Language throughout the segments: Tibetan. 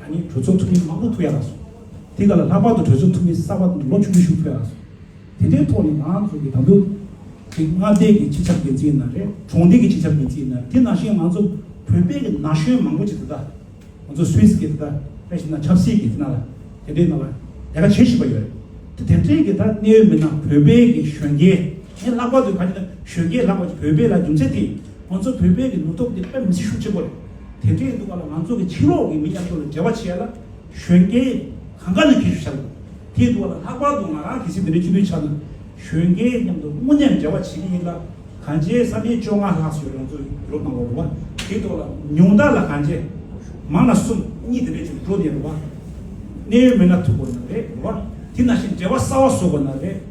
ད་ནི་གྲོས་ཚོགས་འཐུས་མི་མང་པོ་ཐུག་ཡག་ལ་སོང། དེ་ག་ལ་ལྷག་པར་དུ་གྲོས་ཚོགས་འཐུས་མི་གསར་པ་དང་ལོ་བཅུ་དྲུག་ཞུགས་ཕོད་ཡག་ལ་སོང། དེ་འདྲའི་ཐོག་ནས་ང་ཚོ་གི་དམ་འབུལ། དེ་མངའ་སྡེ་གི་སྤྱི་ཁྱབ་འགན་འཛིན་ཡིན་ན་རེད་གྲོང་སྡེ་གི་སྤྱི་ཁྱབ་འགན་འཛིན་ཡིན་ན་རེད་དེ་ནང་བཞིན་ང་ཚོ་བོད་པའི་གི་ན་གཞོན་མང་པོ་ཅིག་དེ་དག་ང་ཚོ་སུད་སི་གི་དེ་དག་དེ་བཞིན་ན་ཆབ་སྲིད་གི་དེ་ན་ལ་དེ་འདྲའི་ན་ལ་ལས་ཀ་བྱེད་བཞིན་པ་ཡོད་རེད་དེ་དེ་འདྲའི་གི་ད་གནས་ཡོད་མི་སྣ་བོད་པའི་གི་གཞོན་སྐྱེས་ངས་ལྷག་པར་དུ་ག་རེ་ན་གཞོན་སྐྱེས་ལྷག་པར་དུ་བོད་པའི་ལ་རྒྱུ་མཚན་དེ་ང་ཚོ་བོད་པའི་གི་ནུབ་ཐོག་འདི་དཔེ་མི་སྲིད་ཤུགས་ཆེན་པོ་རེད་དེ་འདྲའི་ནུབ་བ་ལ་ང་ཚོ་གི་ཕྱི་ལོག་གི་མི་མཉམ་ཚོ་ལ་འབྲེལ་བ་བྱས་ལ་གཞོན་སྐྱེས་གང་དགའ་ནི་ཁྱེད་ཤུགས་ཆ་དགོས་དེ་འདུག་བ་ལ་ལྷག་པར་དུ་ང་རང་གི་སི་འདི་འདྲའི་སྤྱི་འཐུས་ཆགས་ན་གཞོན་སྐྱེས་མཉམ་དུ་དངོས་གནས་འབྲེལ་བ་བྱེད་ཀྱི་ཡིན་ལ་གང་བྱས་བསམ་ཡས་བཅོ་ལྔ་ལྷག་སོས་རང་ཚོ་རུབ་གནང་བ་རུབ་བ་དེ་ཐོག་ལ་ཉུང་དག་ལ་གང་བྱས་མང་ན་གསུམ་གཉིས་དེ་འདྲས་ཆུ་འགྲོ་ནས་རུབ་བ་གནས་ཡོད་མེད་ན་ཐུག་དགོས་ན་རེད་རུབ་བ་དེ་ན་བཞིན་འབྲེལ་བ་གསར་བ་བཟོ་དགོས་ན་རེད།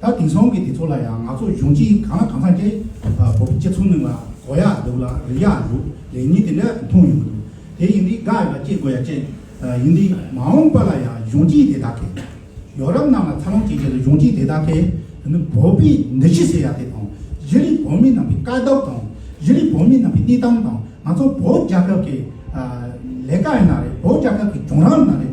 ད་དེང་སང་གི་དེ་ཚོ་ལ་ཡང་ང་ཚོ་གཞུང་གཅིག་གང་ལ་གང་འཚམ་སྐྱ་ཡི་བོད་ཕྱི་ཚུལ་མིན་ལ་གོ་ཡག་འདུག་ལ་རིག་ཡག་འདུག་ལས་ཉིན་དེ་འདྲ་མཐོང་ཡོང་གི་འདུག་དེ་ཡིན་དུས་དགའ་ཡོད་ལ་སྐྱིད་དགོས་ཡ་ཅན་ཡིན་དུས་མ་འོངས་པ་ལ་ཡང་གཞུང་གཅིག་དེ་དག་གིས་ཡོ་རབ་རྣམས་ལ་འཚར་ལོངས་བྱེད་ཆེད་དུ་གཞུང་གཅིག་དེ་དག་གིས་དེ་ནི་བོད་པའི་འདི་ཕྱི་ཟེར་ཡག་དེ་དང་གཞི་རིག་བོད་མི་རྣམས་པའི་དཀའ་སྡུག་དང་གཞི་རིག་བོད་མི་རྣམས་པའི་གནས་སྟངས་དང་ང་ཚོ་བོད་རྒྱལ་ཁབ་ཀྱི་ལས་ཀ་ཡིན་ན་རེད་བོད་རྒྱལ་ཁབ་ཀྱི་གྱོང་རག་ཡིན་ན་རེད།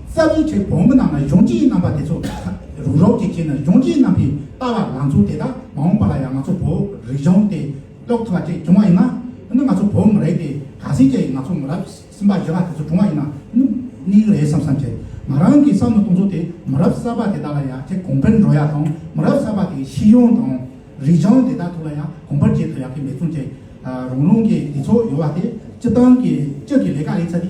རྩ་བའི་ཆོས་བོང་བུ་རྣམས་ལ་གཞུང་སྤྱིའི་རྣམ་པ་དེ་ཚོ་རུ་རོགས་ཀྱིས་བྱས་ན་གཞུང་སྤྱིའི་རྣམ་པའི་ལྟ་བ་ལང་ཚོ་དེ་དག་མ་འོངས་པ་ལ་ཡང་ང་ཚོ་བོད་རིག་གཞུང་དེ་ཀློག་ཐུབ་པ་བཅས་བྱུང་བ་ཡིན་ན་ནི་ང་ཚོ་བོད་མི་རེད་དེ་ག་ཟེ་བྱས་ཡིན་ང་ཚོ་མི་རབས་གསུམ་པ་བཞི་པ་དེ་ཚོ་བྱུང་བ་ཡིན་ན་ནི་གནས་གི་རེད་བསམ་བསམ་བྱས་ང་རང་གིས་བསམ་ནི་གཏོང་ཚོ་དེ་མི་རབས་གསར་པ་དེ་དག་ལ་ཡག་ཆེ་གོང་འཕེལ་འགྲོ་ཡག་དང་མི་རབས་གསར་པ་དེ་གའི་ཤེས་ཡོན་དང་རིག་གཞུང་དེ་དག་ཐོག་ལ་ཡང་གོང་འཕེལ་བྱེད་ཐུབ་ཡག་གི་འབད་བརྩོན་བྱས་རང་རང་གིས་དེ་ཚོ་ཡོད་པ་དེ་སྤྱི་བཏང་གིས་སྤྱི་གི་ལས་ཀ་ལས་ཚ་དེ་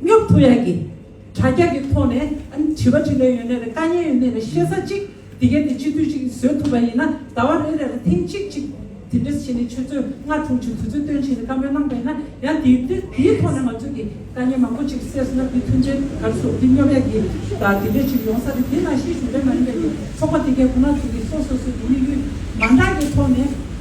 སྙོབ་ཐུབ་ཡག་གི། དྲ་རྒྱ་གི་ཐོག་ནས་དྲི་བ་དྲི་འདོད་ཡོད་ནད་རེད་དཀའ་ངལ་ཡོད་ནད་རེད་ཤེས་ས་གཅིག་དེ་གས་དེ་སྤྱི་འཐུས་གཅིག་བཟོས་ཐུབ་པ་ཡིན་ན་ཟླ་བ་རེ་རེ་ལ་ཐེངས་གཅིག་གཅིག་དེ་འདྲས་བྱས་ནས་ཆུ་ཚོད་ལྔ་དྲུག་ཅིག་དུས་ཚོད་སྟོན་བྱས་ནས་བཀའ་མོལ་གནང་པ་ཡིན་ན་ཡང་དེའི་དེ་དེའི་ཐོག་ནས་ང་ཚོས་ཀྱི་དཀའ་ངལ་མང་པོ་ཅིག་སེལ་སོང་ན་དེ་མཐུན་རྐྱེན་ག་རེ་བཟོ་དེ་སྙོབ་ཡག་གི། དང་དེ་འདྲས་ཅིག་ཡོང་ས་རེད་དེ་ནང་བཞིན་གཞུང་འབྲེལ་མ་ཡིན་པའི་ཚོགས་པ་དེ་གས་ཁོ་ན་ཚོས་ཀྱི་སོ་སོ་སོས་ཀྱི་དམིགས་ཡུལ་མ་འདྲ་གི་ཐོག་ནས།